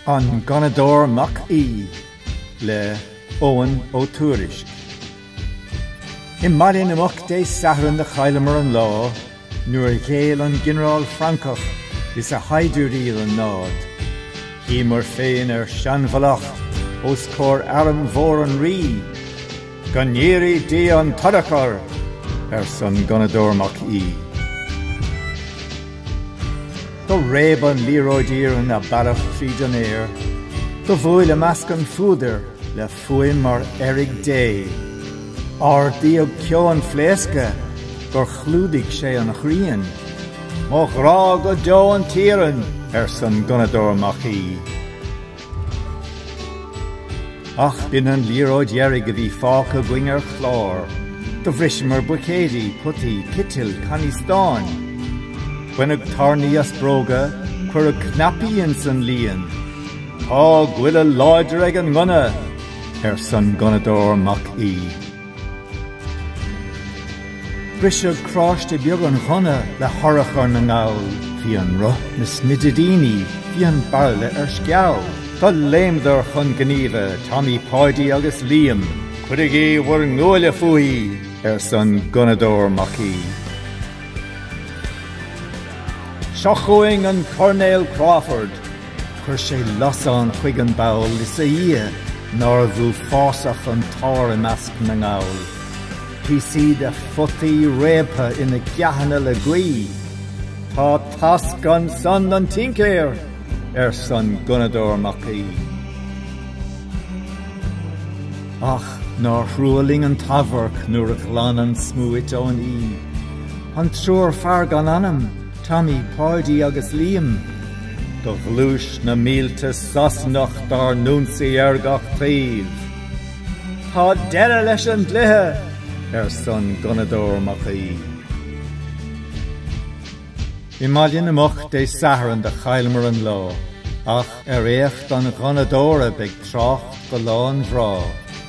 An Gunnadóir Mac Aoidh le Eoghan Ó Tuairisc I mBaile na Muc Dé Sathairn do chailleamar an lá. Nuair a ghéill an ginearál Francach is a shaighdiúirí don námhaid, shuíomar féin ár seanmhallacht os comhair arm mhór an rí. Go ndírí Dia an t-urchar! arsa an gunnadóir Mac Aoidh. Do réab an liathróid iarainn a bealach tríd an aer, do bhuail i measc an phúdair le Fuaim mar fheirg Dé. Ardaíodh ceo an phléasctha gur chlúdaigh sé an ghrian. Mo ghrá go deo an t-iarann! arsan gunnadóir Mac Aoidh. Ach b'in an liathróid dheiridh a bhí fágtha againn ar chlár. Do bhriseamar buicéidí, potaí, citil, cannaí stáin. Baineadh tairní as bróga, cuireadh cnaipí ins an líon. Tá goile láidir ag an ngunna, arsa an gunnadóir Mac Aoidh. Briseadh carráiste beag an ghunna le hurchar na nGall, bhí an roth ina smidiríní, bhí an bairille ar sceabha. Do léimeadar chun gníomha, Tommy, Páidí agus Liam. Cuirigí bhur nguaille fúithi, arsa an gunnadóir Mac Aoidh. Seo chugainn an Coirnéal Crawford, Chuir sé lasán chuig an bpoll is a Dhia nárbh uafásach an t-ár i measc na nGall. Píosaí de photaí réabtha ina gceathanna le gaoith. Tá tasc ansan don tincéir! arsan gunnadóir Mac Aoidh. Ach nár thrua linn an t-amharc nuair a ghlan an smúit ón Aoidh. An triúr fear gan anam! Tommy, Páidí agus Liam, do ghluais na mílte Sasanach dár n-ionsaí ar gach taobh. Tá deireadh leis an gcluiche! arsan Gunnadóir Mac Aoidh. I mBaile na Muc Dé Sathairn do chailleamar an lá ach ar éacht an Ghunnadóra beidh trácht go lá an bhrátha.